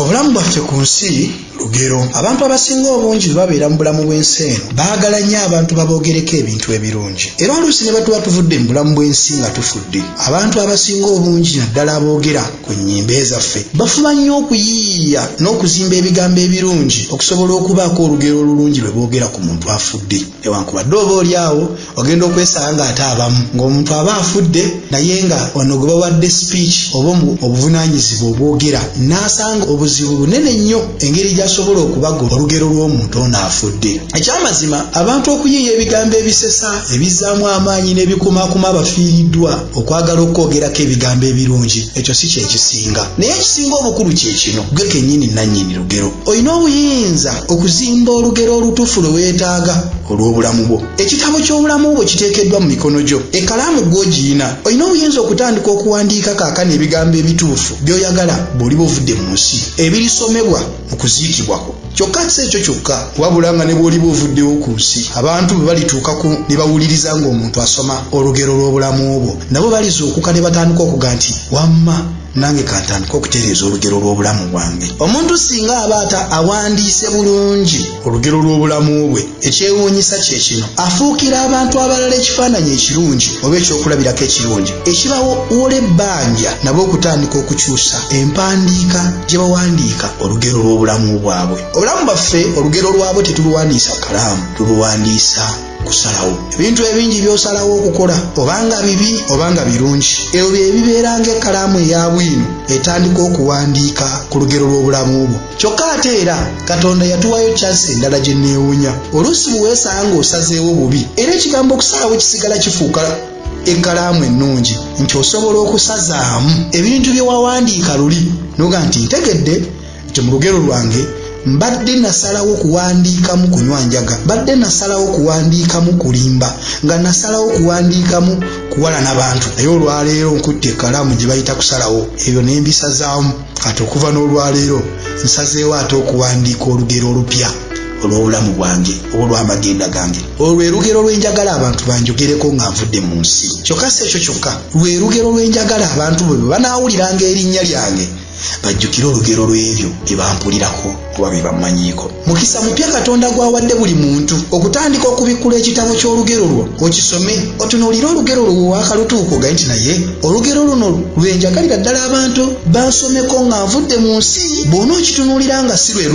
Obulamu bwaffe ku nsi lugero. Abantu abasinga obungi bwe babeera mu bulamu bw'ensi eno baagala nnyo abantu baboogereko ebintu ebirungi era oluusi ne batuba tuvudde mu bulamu bw'ensi nga tufudde. Abantu abasinga obungi naddala aboogera ku nnyimbe zaffe bafuba nnyo okuyiiya n'okuzimba ebigambo ebirungi okusobola okubaako olugero olulungi lwe boogera ku muntu afudde. newankubadde oba oli awo ogenda okwesanga ng'ate abamu ng'omuntu aba afudde naye nga ono gwe bawadde speech oba obuvunaanyizibwa obwogera n'asanga obuzibu bunene nnyo engeri gy'asobola okubagoba olugero lw'omuntu ono afudde ekyamazima abantu okuyiiya ebigambo ebisesa ebizzaamu amaanyi n'ebikumaakuma abafiiriddwa okwagala okwogerako ebigambo ebirungi ekyo si kyekisinga naye ekisinga obukulu kye kino gwe kennyini nannyini olugero. Olina obuyinza okuzimba olugero olutuufu lwe weetaaga olw'obulamu bwo. Ekitabo ky'obulamu bwo kiteekeddwa mu mikono gyo. Ekkalaamu gwe ogiyina. Olina obuyinza okutandika okuwandiika kaakano ebigambo ebituufu by'oyagala bw'oliba ovudde mu nsi, ebirisomebwa mu kuziikibwa kwo. Kyokka si ekyo kyokka, wabula nga ne bw'oliba ovuddewo ku nsi, abantu bwe balituukako ne bawuliriza ng'omuntu asoma olugero lw'obulamu bwo, nabo balizuukuka ne batandika okuga nti, Wamma! nange kantandika okutereeza olugero lw'obulamu bwange omuntu singa aba ata awandiise bulungi olugero lw'obulamu bwe ekyewuunyisa kye kino afuukira abantu abalala ekifaananyi ekirungi oba ekyokulabirako ekirungi ekibawola ebbanja nabo okutandika okukyusa empandiika gye bawandiika olugero lw'obulamu bwabwe obulamu bwaffe olugero lwabwe tetuluwandiisa kalaamu tuluwandiisa kusalawo ebintu ebingi byosalawo okukola obanga bibi obanga birungi ebyo bye bibeera ng'ekkalaamu eya bwino etandika okuwandiika ku lugero lw'obulamu bwo kyokka ate era katonda yatuwayo kyansi endala gye neewunya oluusi bwe weesanga ng'osazeewo bubi era ekigambo okusalawo kisigala kifuuka ekkalaamu ennungi nti osobola okusazaamu ebintu bye wawandiika luli noga nti ntegedde nti mu lugero lwange mbadde nasalawo kuwandiikamu kunywa njaga mbadde nasalawo kuwandiikamu kulimba nga nasalawo kuwandiikamu kuwalana bantu naye olwaleero nkutte ekalaamu gye bayita kusalawo ebyo nembisazaamu kati okuva n'olwaleero nsazeewo ate okuwandiika olugero olupya olw'obulamu bwange oba olw'amagenda gange olwo lwe lugero lw'enjagala abantu banjogereko nga nvudde mu nsi kyokka si ekyo kyokka lwe lugero lw'enjagala abantu bwe bwe banaawuliranga erinnya lyange bajjukire olugero lw'ebyo bye bampulirako oba bye bammanyiiko mukisa mupya katonda gw'awadde buli muntu okutandika okubikkula ekitabo ky'olugero lwo okisome otunuulire olugero lwo wewakalutuuka ogaye nti naye olugero luno lwe njagalira ddala abantu bansomeko nga nvudde mu nsi bw'ona okitunuulira nga si lwe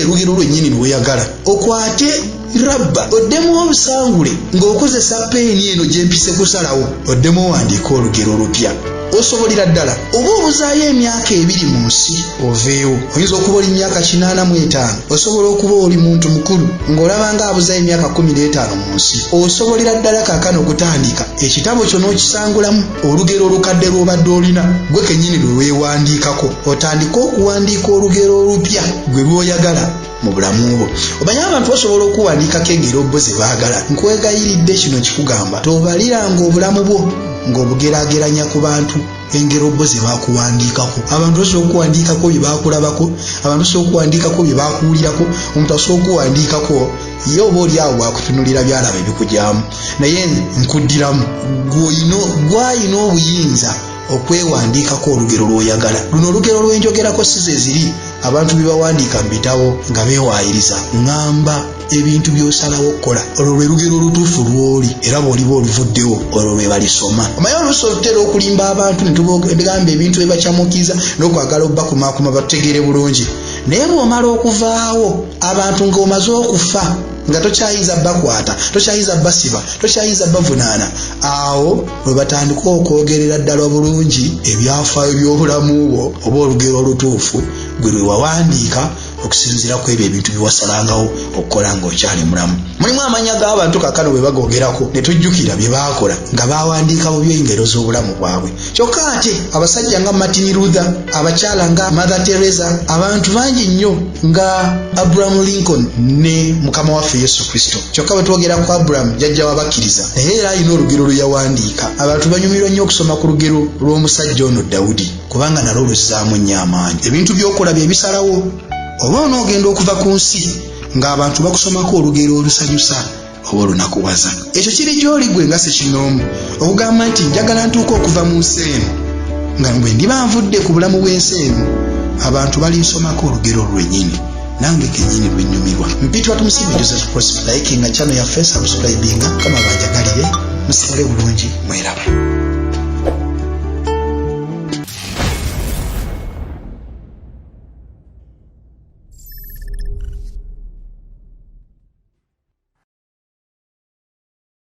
lugero lwennyini lwe weyagala okwate rabba oddemu obusangule ng'okozesa peeni eno gye mpise kusalawo oddemu owandiika olugero olupya osobolera ddala oba obuzaayo emyaka ebiri mu nsi oveewo oyinza okuba oli myaka kinaana mu etaano osobola okuba oli muntu mukulu ng'olaba nga abuzaayo emyaka kumi n'etaano mu nsi osobolera ddala kakana okutandika ekitabo kyo n'okisangulamu olugero olukadde lw'obadde olina gwe kennyini lwe weewandiikako otandike okuwandiika olugero olupya gwe lw'oyagala mu bulamu bwo omanyi abantu basobola okuwandiikako engeri obbo ze baagala nkwegayiridde kino kikugamba tobaliranga obulamu bwo ng'obugerageranya ku bantu engero bo ze bakuwandiikako abantu basobola okuwandiikako bye bakulabako abantu basobola okuwandiikako bye bakuwulirako omuntu asobola okuwandiikako ye oba oli awo wakutunulira byalaba ebikugyamu naye nkuddiramu gwalina obuyinza okwewandiikako olugero lw'oyagala luno olugero lwenjogerako si ze ziri abantu bye bawandiika mu bitabo nga beewaayiriza ŋŋamba ebintu by'osalawo okukola olwo lwe lugero olutuufu lw'oli era bw'oliba oluvuddewo olwo lwe balisoma omaye oluusi olutera okulimba abantu ne tubagamba ebintu bye bakyamukiza n'okwagala okubakumaakuma batutegeere bulungi naye bw'omala okuvaawo abantu ng'omaze okufa nga tokyayinza bakwata tokyayinza basiba tokyayinza bavunaana awo bwe batandika okwogerera ddala obulungi ebyafaayo by'obulamu bwo oba olugero olutuufu gwe lwe wawandiika okusinziira ku ebyo ebintu bye wasalangawo okukola ng'okyali mulamu mulimu amannya g'abantu kakano bwe bagoogerako ne tujjukira bye baakola nga baawandiika bubyo engero z'obulamu bwabwe kyokka ate abasajja nga martin luther abakyala nga mother teresa abantu bangi nnyo nga abraham lincoln ne mukama waffe yesu kristo kyokka bwe twogera ku aburamu jjajja w'abakkiriza naye era alina olugero lwe yawandiika abantu banyumirwa nnyo okusoma ku lugero lw'omusajja ono dawudi kubanga nalwo luzzaamu nnyo amaanyi ebintu by'okola bye bisalawo oba onoogenda okuva ku nsi ng'abantu bakusomako olugero olusanyusa oba olunakuwaza ekyo kiri gy'oli gwe nga sekinoomu okugamba nti njagala ntuuka okuva mu nsi eno nga bwe ndiba nvudde ku bulamu bw'ensi eno abantu balinsomako olugero lwennyini nange kenyini lwenyumirwa mpitwa tumusiime joseph prosper like nga chano yaffe subscribinga kama banjagalire musigale bulungi mweraba